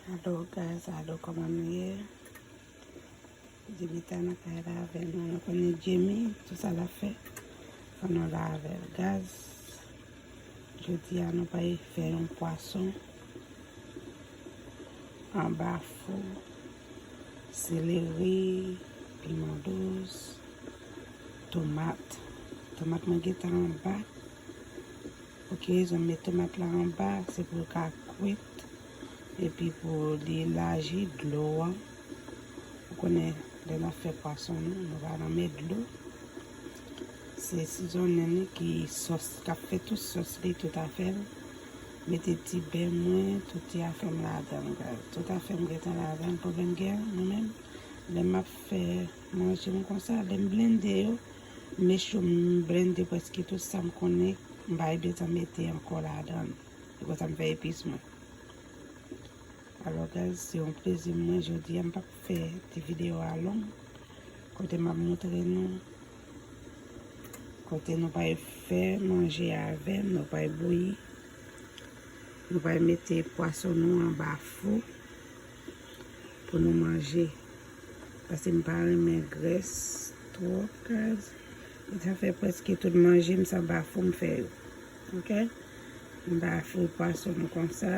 Alo guys, alo koman nou ye? Djimita nan kay la avèl nou, nou konnen Djimi, tout sa la fè, fò nou la avèl. Gaz, jodi a nou pay fè yon pwason, anba fou, seleri, piman dous, tomat, tomat mwen geta anba, ok, zon mè tomat la anba, se pou l ka kwit, Epi pou li laji dlo an, ou konnen lè n ap fè pwason nou, nou va renmen dlo. Se sizonnen li ki sòs, k ap fè tout sòs li, tout afè l. Mete ti bè mwen, tout ti afè m ladan l. Tout afè m gen tan ladan l. Pwoblèm m gen mwen menm, lè m ap fè manje m konsa, lè m blende yo, m mechou m blende prèske tout sa m konnen, m pa gen tan mete ankò ladan l. E konsa m fè epis mwen. Alò guys, se yon plezi pou mwen jodi a. M pap fè ti video a long. Kote m ap montre nou. Kote nou pral fè manje a avè m. Nou pral bouyi. Nou pral mete pwason nou anba fou. Pou nou manje. Pase m pa renmen grès. Twop guys. Sa fè preske tout manje m sa anba fou m fè yo. Ok m pa fri pwason m konsa.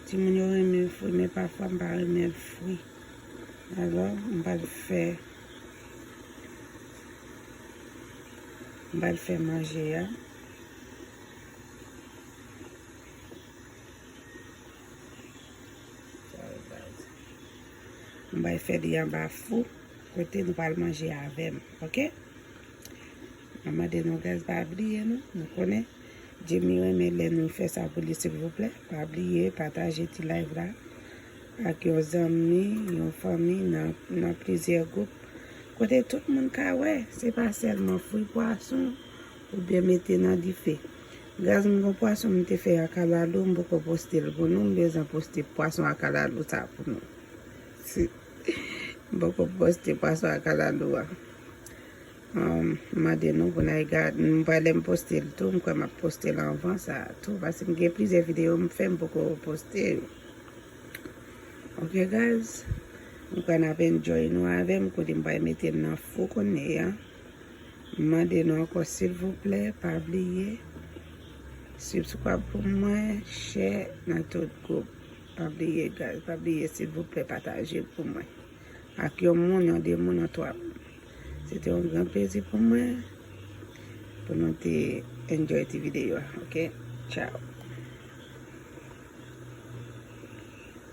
Timoun yo renmen l fri men pafwa m pa renmen l fri. Alò m pral fè m pral fè manje a. M bay fè li anba fou kote nou pral manje avè m. Ok. Map mande nou guys pa bliye nou, nou konnen Djimy renmen lè nou fè sa pou li silvouplè, pa bliye pataje ti live la ak yon zanmi, yon fanmi nan plizyè gwoup kote tout moun ka wè, se pa sèlman fri pwason ou byen mete nan dife. Guys m gon pwason m te fè a kalalou m poko poste l pou nou, m bezwen poste pwason a kalalou sa pou nou. Mpoko poste pwason a kalalou a. M mande nou pou n al gad. M pa lè m poste l tou. M kwè m ap poste l anvan sa a tou. Paske m gen plizyè videyo m fè m poko poste yo. Ok guys. M kwè n ap enjoy nou avè m. Kote m pral mete l nan fou kounye a. M mande nou ankò silvouplè pa bliye. Sibskwab pou mwen. Chè nan tout gwoup. Pa bliye guys pa bliye silvouplè pataje l pou mwen ak yon moun yon 2 moun yon 3 moun se te yon gran plezi pou mwen pou nou te enjoy ti video ok ciao.